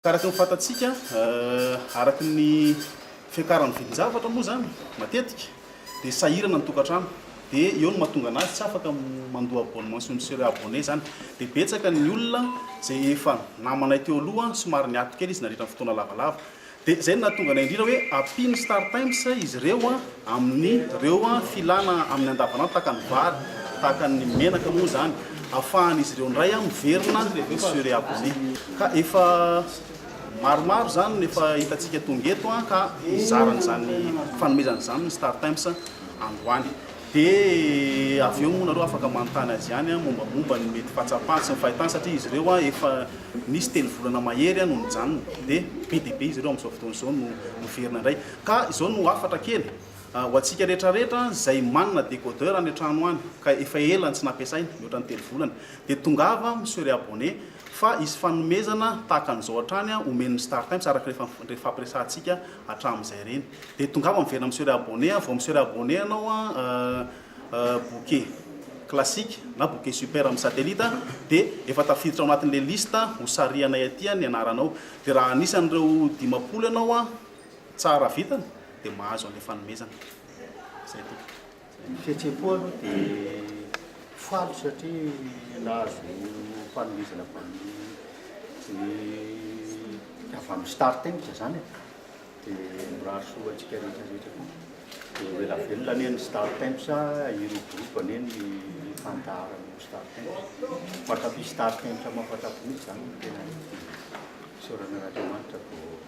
Ka araka ny fantatsika, araka ny fiakaran'ny vidin-javatra moa izany matetika dia sahirana ny tokantrano dia eo no mahatonga an'azy tsy afaka mandoa abonnement sy mi se re abonner izany dia betsaka ny olona izay efa namanay teo aloha somary niato kely izy nandritra ny fotoana lavalava dia izay no nahatonga anay indrindra hoe ampino star times izy ireo Amin' ireo filana amin' ny andavanandro tahaka ny vary, tahaka ny menaka moa izany, ahafahan' izy ireo indray miverina ny sureagonie. Ka efa maromaro izany no efa hitantsika tonga eto ka hizara an' izany fanomezana izany ny Star Times androany. Dia avy eo moa nareo afaka manontany azy ihany mombamomba ny mety fahatsapany sy ny fahitany satria izy ireo efa nisy telo volana mahery no nijanona dia be dia be izy ireo amin' izao fotoana izao no miverina indray. Ka izao no hafatra kely ho antsika rehetra rehetra izay manana décodeur any an-trano any ka efa ela tsy nampiasaina, mihoatra ny telo volana, dia tongava mi se reabonner fa hisy fanomezana tahaka an'izao hatrany omen'ny Startimes araka ireny nifampiresahantsika hatramin'izay ireny. Dia tongava miverina mi se reabonner, vao mi se reabonner ianao bouquet classique na bouquet super amin'ny satellite dia efa tafiditra ao anatin'ilay liste hosarihanay aty ny anaranao, dia raha anisan'ireo dimampolo ianao, Tsara vitany dia mahazo an'ilay fanomezana. Izay tompoko. Ny fihetsem-po aloha dia faly satria nahazo fanomezana avy amin'ny avy amin'ny Star Temp izany e. Dia mirary soa ho antsika rehetra rehetra koa. Dia ho ela velona anie ny Star Temps a, hiroborobo anie ny fandaharan'ny Star Temps. Mankafy Star Temps mampahatrapo mihitsy izany ny tenany. Isaorana an'Andriamanitra vao.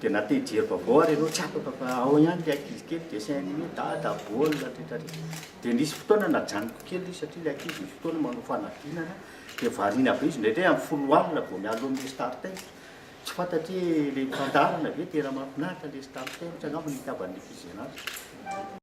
Dia na te hijery vaovao ary ianao, tsy afaka fa ao ihany ilay ankizy kely, dessin animé, dada, baolina, retradretra. Dia nisy fotoana najanoko kely izy satria ilay ankizy misy fotoana manao fanadinana, dia variana avy eo izy indraindray amin'ny folo alina vao mialoha amin'ny restart-time. Tsy fantatro hoe ilay fandaharana ve tena mahafinaritra ilay restart-time, angamba no itiavan'ny ankizy anazy.